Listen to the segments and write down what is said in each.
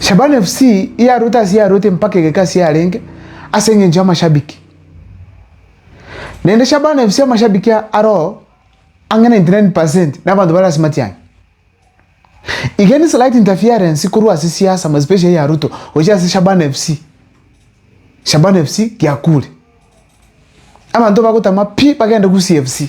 Shabana FC yaruete ase yaruete mpaka egeka ase yarenge ase engencho y'amashabiki. Naende Shabana FC amashabiki aro ang'e 99% na abanto bare ase matiang'i. Iga ni slight interference korwa ase siasa ama especially ya Ruto gochia ase Shabana FC. Shabana FC giakure. Abanto bagotama pi bagende Gusii FC.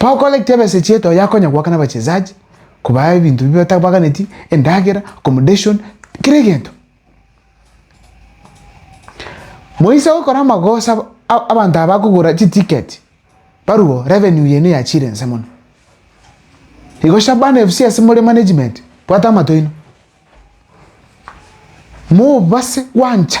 Bagokora ki tebesa echieta oyo akonya goaka nabachesaji kobaa ebinto bi batabaganeti endagera accommodation kera egento. Moise agokora amagosa abanto aba bakogora chi ticket barwo revenue yene yachire ense mono. Igo Shabana FC ase more management bwata amato aino mobase gwancha.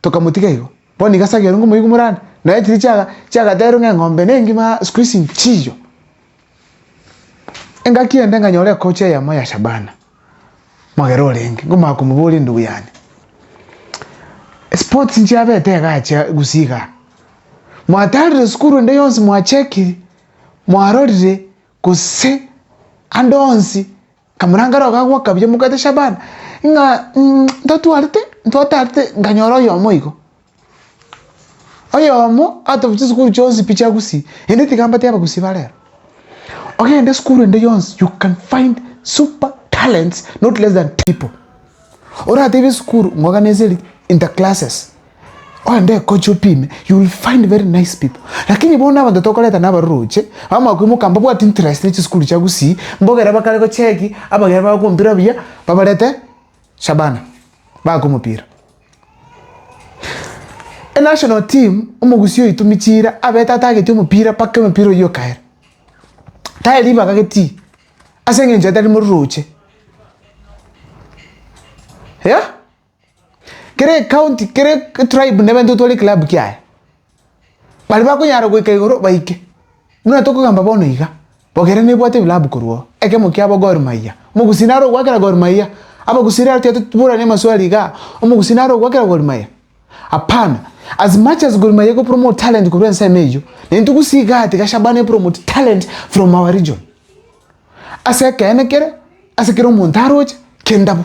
Tokamotiga igo. Bono nigo ase ageirwe ngomoigu morane, naye chiria chiaga chiagaterwe ng'a eng'ombe nengima siku ici nchiyo. Engaki ende nganyora ekochi eyemo ya Shabana, mogera orenge, ngomanya komoboria endugu yane. Esports nchiabete iga achia gusii igaa. Mwatarire sukuru ende yonsi mwachekiri, mwarorire gose ande onsi Kamorangare oo gagwa kabuya omogati Shaban ng'a ntotwarete, ntwatarete nkanyora oyomo igo. Oyomo atobi chisukuru chionsi pi chia Gusii, ende tiga mbate Abagusii ba rero. Ogende esukuru ende yonsi you can find super talents not less than people. Oratebie esukuru ng'oganese ri inter classes. Ogende ekoche opime you will find very nice people lakini bono abanto tokoreta na abaroroche bamakwimoka mbabwati interest ne chisukuru chia Gusii mbogera bakare gocheki abageni bagoka omopira buya babarete Shabana bagoka omopira. Enational team omogusii oito michira abete atagete omopira mpaka omopira oyio okaera tari ribaga getii ase eng'encho etari mororoche eh. Kera ecounty kera etribe nebainto gotwara eclub kiaye, baria bakonyara goika igoro baike, buna tokogamba bono iga, Bogere nebwate ebilabu korwa oo, ekemo kiabo Gor Mahia, omogusii nare ogwakera Gor Mahia, abagusii naro tiga totuburane amaswali igaa, omogusii nare ogwakera Gor Mahia? Hapana, as much as Gor Mahia egopromote talent korwa ensemo eyio, naintwe gusii igaa tiga Shabana epromote talent from our region. Ase ekeene kere, ase kera omonto aroche, kenda bo.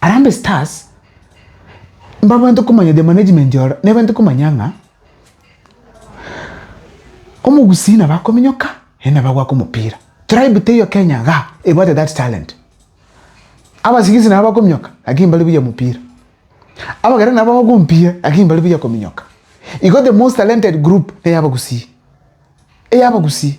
Harambee Stars mbabwate komanya the management oro nebwate komanya ng'a omogusii nabo akominyoka naende nabo agoaka omopira. Tribe teiyo Kenya igaa ebwate that talent. Abasigisi nabo bakominyoka lakini mbari buya omopira. Abageni nabo bagoaka omopira lakini mbari buya kominyoka. Igo the most talented group ney'abagusii, ey'abagusii.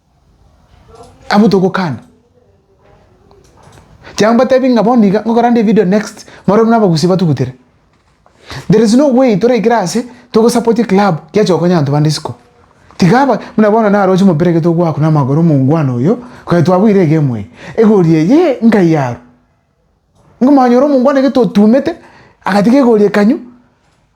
Abwo togokana, chiago mbatebi ng'a bono iga ngokora nde evidio next baria buna abagusii batugutere. There is no way toraikere ase togosapoti eclub giacha gokonya abanto bande isiko. Tiga aba buna bono naroche omopira ekero togoaka na amagoro omongwana oyo, kare twabuire egemu eye, egori eyee nkai aro. Nkomonyora omongwana gete otumete, agatiga egori ekanywa.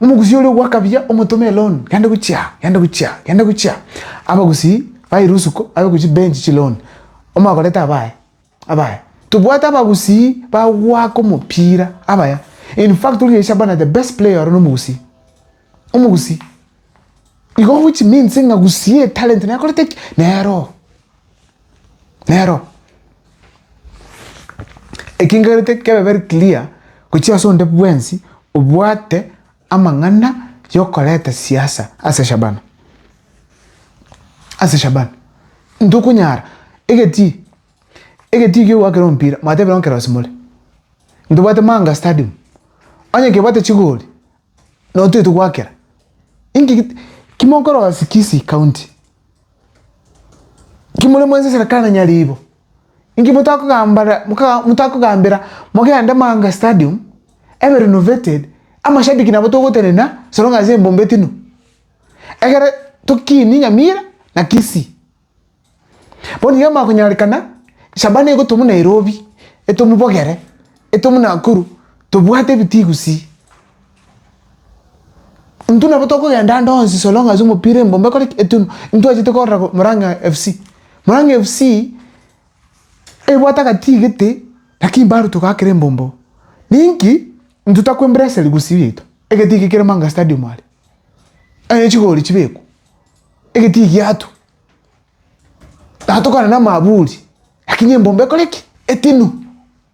Omogusii oria ogwakabia omotome eloan gende gochia, gende gochia, gende gochia. Abagusii ba erusuko babe gochia bench chiloan, omakorete abaye, abaye. Tobwate abagusii bagwaka omopira abaya. In fact oria Shabana the best player oro nomogusii. Omogusii. Igo which means ng'a gusii etalent naye akorete ki? Nero. Nero ekengerete kebe very clear gochia ase onde bwensi obwate amang'ana yokoreta siasa ase Shabana, ase Shabana ntokonyara egetii egetii kia ogwakera omopira mwatebire nonye kerosi more, ntobwate Mahanga stadium onye kebwate chigori nabo toigete gwakera, inki ki kimokorosia Kisii county. Inki more mwensi esera kana nyaribo? Inki motakogambara moka- motakogambera mogende Maanga Stadium ebe renovated amashabiki nabo togotenena as long as embombe tino. Egere tokinie Nyamira na Kisii. Bono iga amakonyarekana Shabana egotwa buna Nairobi etwe mobogere etwe buna Nakuru tobwate ebitigu sii. Intwe nabo tokogenda ande onsi so long as omopira embombe ekore ki? Etunwa. Intwe twachete korora Murang'a FC. Murang'a FC, ebwate agatigete lakini bado togakera embombo. Ninki? Intwe totakwa embracery gusii yaito. Egetige kere Manga Stadium are. Onye chigori chibekwa. Egetige giatwa. Naye tokorana na amaburi. Lakini embombe ekore ki? Etinwa.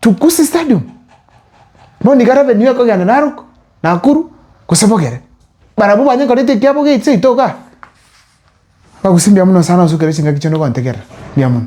Tukusi Stadium, bono nigo arabe nigo ekogenda Narok, Nakuru gose Bogere. Barabwo banyekorete ekiabo geche seito iga, bagusie mbuya mono sana osukere chingaki chiane ogontegerera, mbuya mono.